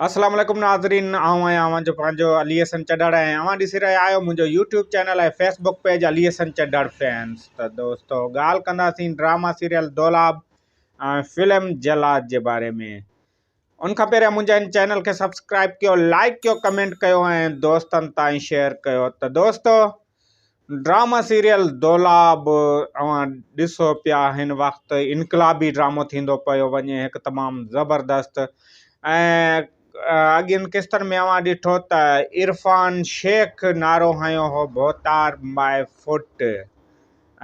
اسلام عليڪم ناظرين آئون آهيان اوهان جو پنهنجو علي حسن چڏڙ ۽ اوهان ڏسي رهيا آهيو منهنجو YouTube channel ۽ Facebook page Ali Hassan Chhadar fans ته دوستو ڳالهه ڪنداسين drama serial Dolab ۽ film Jallad جي باري ۾ ان کان پهريان منهنجا ان چينل کي سبسڪرائب ڪيو لائڪ ڪيو ڪمينٽ ڪيو ۽ دوستن تائين شيئر ڪيو ته دوستو ڊرامه سيريل دولا به اوهان ڏسو پيا هن وقت انقلابي ڊرامو ٿيندو پيو وڃي هڪ تمام زبردست ۽ اڳين قسطن ۾ اوهان ڏٺو ته عرفان شيخ نعرو هنيو هو ڀوتار مائي فوٽ ۽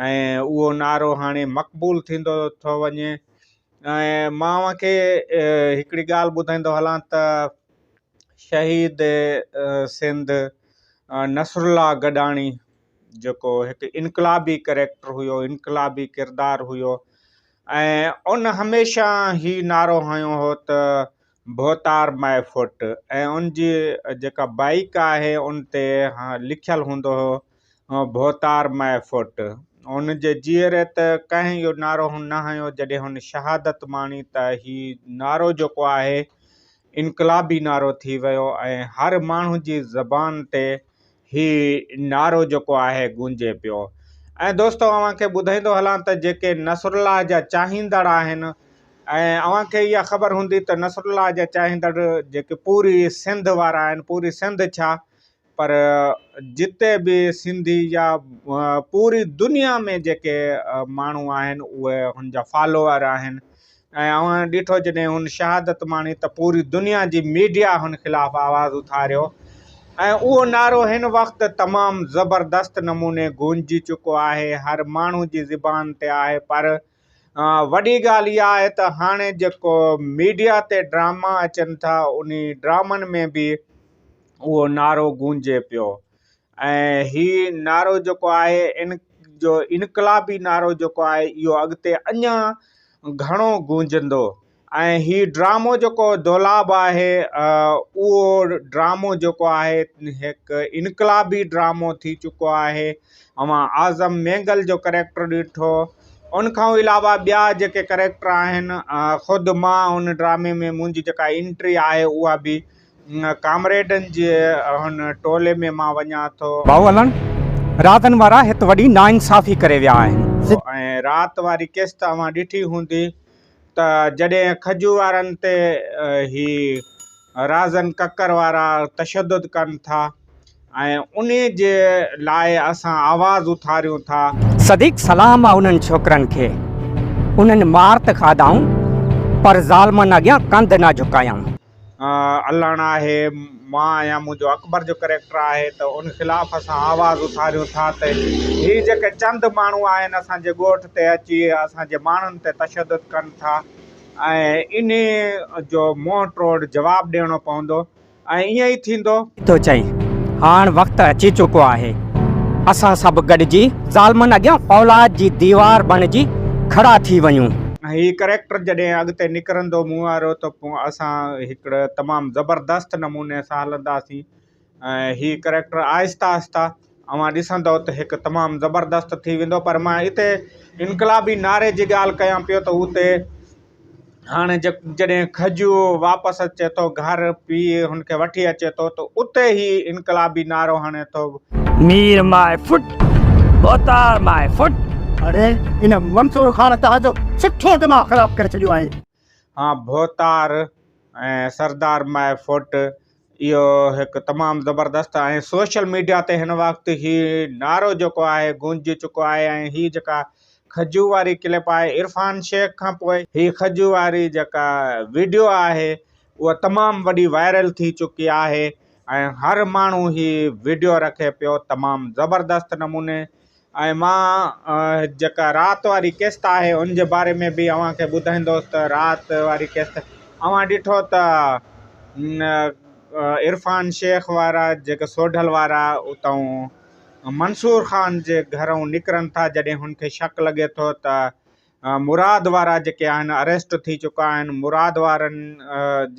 اهو نعرو هاڻي مقبول ٿيندو ٿو وڃي ۽ مان اوهان کي هڪڙي ڳالهه ٻڌائيندو هلان ته شهيد سنڌ نصرالله گڏاڻي جيڪو هڪ انقلابي ڪريڪٽر هيو انقلابي ڪردار هيو ۽ ان هميشه هي نعرو هنيو هو ته ڀوتار مئي فوٽ ۽ ان جي جيڪا بائيڪ آهي ان تي لکيل هوندو هو ڀوتار مئي فوٽ هن جي جيئري ته ڪنهن اهو نعرو نه هنيو جڏهن هن شهادت ماڻي ته هي نعرو جيڪو آهي انقلابي نعرو ٿي ويو ۽ هر ماڻهو جي زبان تي هي نعرو جيڪو آهي گونجي پيو ۽ دوستو اوهان کي ٻڌائيندو هلان ته جيڪي نصرالله جا چاهيندڙ آهن ۽ اوهان کي اها خبر هوندي ته نصرالله جا چاهيندڙ جيڪي پوري سنڌ وارا آهن پوري سنڌ ڇا پر جتي به سنڌي يا پوري دنيا ۾ جيڪي ماڻهو آهن اهي هن جا فالوور آهن ۽ اوهان ڏٺو جڏهن هن شهادت ماڻي ته پوري دنيا جي ميڊيا هن خلاف آواز اٿاريو ۽ اهو نعرو هن وقت تمام زبردست نموني گونجي چڪو آهي هر ماڻهو جي زبان تي آهي پر وڏي ڳالهه اها آهي ته هاڻي جيڪو ميڊيا تي ڊراما اچن ٿا انهي ڊرامن ۾ به اهو نعرو گونجي پيو ۽ هي نعرو جيڪو آهي ان جو انقلابي نعرو جيڪو آهي اهو اڳتي اڃان گهڻو گونجندو ۽ هي ڊرامو جيڪو دولاب آهي اهو ڊرامو جيڪو آهي هڪ انقلابي ڊرامو ٿي چڪو آهي اوهان اعظم مينگل جو ڪريڪٽر ڏٺو ان کان علاوه ٻيا جيڪي ڪريڪٽر آهن خود مان ان ڊرامي ۾ منهنجي جيڪا انٽري آهي اها به ڪامريڊن جي هن ٽولي ۾ مان وڃان ٿو ڀائو الڻ راتن وارا هت وڏي ناانصافي ڪري ويا آهن. ۽ رات واري قسط اوهان ڏٺي هوندي. ته جڏهن کجو وارن تي هي رازن ڪڪر وارا تشدد ڪن ٿا ۽ انهي جي لاء اسان آواز اٿاريون ٿا. صديق سلام آ انهن ڇوڪرن کي انهن مار ته کاڌائون پر ظالمن اڳيان ڪنڌ نه جهڪايائون. الڻ آهي، مان آهيان، منهنجو اڪبر جو ڪريڪٽر آهي ته ان خلاف اسان آواز اٿاريون ٿا ته هي جيڪي چند ماڻهو آهن اسان جي ڳوٺ تي اچي اسان جي ماڻهن تي تشدد ڪن ٿا ۽ انهي جو منهن ٽوڙ جواب ڏيڻو پوندو ۽ ائين ئي ٿيندو. ٿو چئي هاڻ وقت اچي چڪو آهي اسان سڀ گڏجي ظالمن اڳيان فولاد جي ديوار بڻجي کڙا ٿي وڃون. هي ڪريڪٽر جڏهن اڳتي نڪرندو مون وارو ته. اسان هڪڙ تمام زبردست نموني سان هلنداسين ۽ هي ڪريڪٽر آهسته آهسته اوهان ڏسندو ته هڪ تمام زبردست ٿي ويندو پر مان هتي انقلابي نعري جي ڳالهه ڪيان پيو ته هتي هاڻي جي جڏهن کجو واپس اچي ٿو گهر پي هن کي وٺي اچي ٿو ته اتي هي انقلابي نعرو هڻي ٿو مير ماء فٽ بوتار ماء فٽ اڙي ان منصور خان تان جو سٺو دماغ خراب ڪري ڇڏيو آهي. هان ڀوتار ۽ سردار ماء فوٽ اهو هڪ تمام زبردست ۽ سوشل ميڊيا تي هن وقت هي نعرو جيڪو آهي گونجي چڪو آهي ۽ هي جيڪا خجو واري ڪلپ آهي عرفان شيخ کان پوء هي خجو واري جيڪا ويڊيو آهي اها تمام وڏي وائرل ٿي چڪي آهي ۽ هر ماڻهو هي ويڊيو رکي پيو تمام زبردست نموني ۽ مان جيڪا رات واري قسط آهي ان جي باري ۾ به اوهان کي ٻڌائيندوس ته رات واري قسط اوهان ڏٺو ته عرفان شيخ وارا جيڪا سوڍل وارا اتئون منصور خان جي گهرئون نڪرن ٿا جڏهن هن کي شڪ لڳي ٿو ته مراد وارا جيڪي آهن اريسٽ ٿي چڪا آهن مراد وارن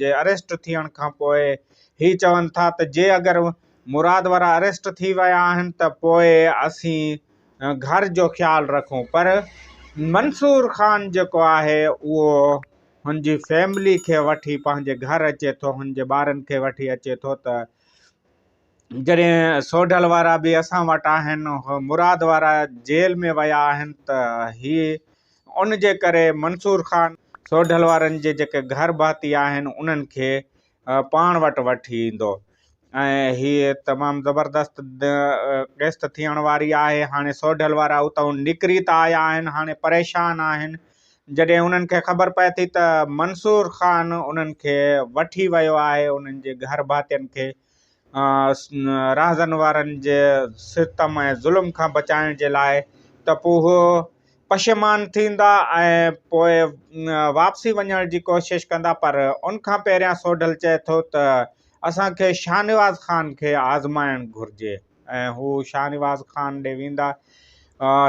جي اريسٽ ٿيڻ کان پوء هي چون ٿا ته جي اگر مراد وارا اريسٽ ٿي ويا آهن ته پوء اسين گهر جو خيال رکون پر منصور خان جيڪو آهي اهو هن جي فيملي کي وٺي پنهنجي گهر اچي ٿو هن جي ٻارن کي وٺي اچي ٿو ته جڏهن سوڍل وارا به اسان وٽ آهن، مراد وارا جيل ۾ ويا آهن ته هي ان جي ڪري منصور خان سوڍل وارن جي جيڪي گهر ڀاتي آهن انهن کي پاڻ وٽ وٺي ايندو ۽ هي تمام زبردست قسط ٿيڻ واري آهي. هاڻي سوڍل وارا اتئون نڪري ته آيا آهن هاڻي پريشان آهن جڏهن انهن کي خبر پئي ٿي ته منصور خان انهن کي وٺي ويو آهي انهن جي گهر ڀاتين کي راهزن وارن جي ستم ۽ ظلم کان بچائڻ جي لاء ته پوء هو پشيمان ٿيندا ۽ پوء واپسي وڃڻ جي ڪوشش ڪندا پر ان کان پهريان سوڍل چئي ٿو ته اسان کي شاهنواز خان کي آزمائڻ گهرجي ۽ هو شاهنواز خان ڏي ويندا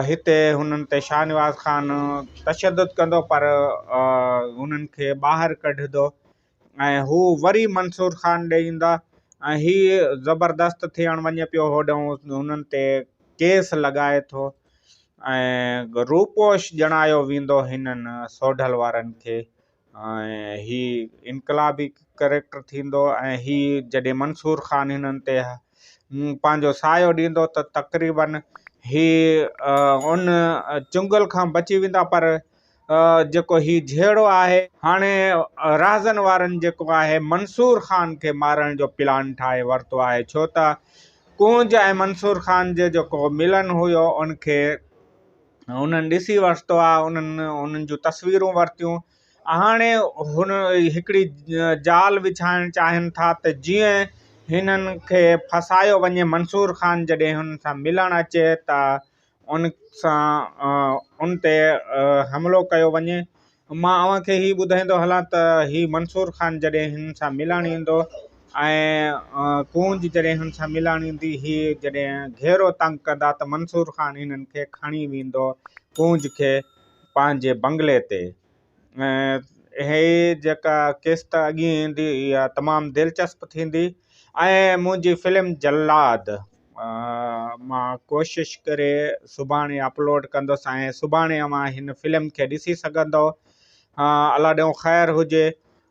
هتي هنن تي شاهنواز خان تشدد ڪندو پر هنن کي ٻاهر ڪڍندو ۽ هو وري منصور خان ڏي ايندا ۽ هي زبردست ٿيڻ وڃي پيو هوڏهون هنن تي ڪيس لڳائي ٿو ۽ روپوش ڄڻايو ويندو هنن سوڍل وارن کي ۽ هي انقلابي ڪريڪٽر ٿيندو ۽ هي جڏهن منصور خان هنن تي پنهنجو سايو ڏيندو ته تقريبن هي ان چنگل کان بچي ويندا پر جيڪو هي جهيڙو آهي. هاڻي رهزن وارن جيڪو آهي منصور خان کي مارڻ جو پلان ٺاهي ورتو آهي ڇو ته ڪونج ۽ منصور خان جي جيڪو ملن هيو ان کي هنن ڏسي ورتو آهي انهن انهن جون تصويرون ورتيون هاڻي هن هڪڙي جال وڇائڻ چاهين ٿا ته جيئن هنن کي ڦاسايو وڃي منصور خان جڏهن هنن سان ملڻ اچي ته ان سان ان تي حملو ڪيو وڃي. مان اوهان کي هي ٻڌائيندو هلان ته هي منصور خان جڏهن هنن سان ملڻ ايندو ۽ ڪونج جڏهن هن سان ملڻ ايندي هي جڏهن گهيرو تنگ ڪندا ته منصور خان هنن کي کڻي ويندو ڪونج کي پنهنجي بنگلي تي. ۽ هي جيڪا قسط اڳي ايندي اها تمام دلچسپ ٿيندي ۽ منهنجي فلم جلاد مان ڪوشش ڪري سڀاڻي اپلوڊ ڪندس ۽ سڀاڻي اوهان هن فلم کي ڏسي سگهندو الله ڏيون خير هجي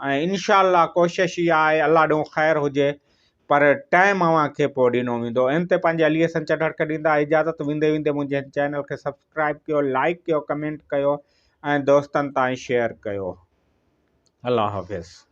۽ انشاء الله ڪوشش اها آهي الله ڏون خير هجي پر ٽائيم اوهان کي پوء ڏنو ويندو ايم تي پنهنجي علي حسن چڍڙڪ ڏيندا اجازت ويندي ويندي منهنجي هن چينل کي سبسڪرائيب ڪيو لائيڪ ڪيو ڪمينٽ ڪيو ۽ دوستن تائين شيئر ڪيو الله حافظ.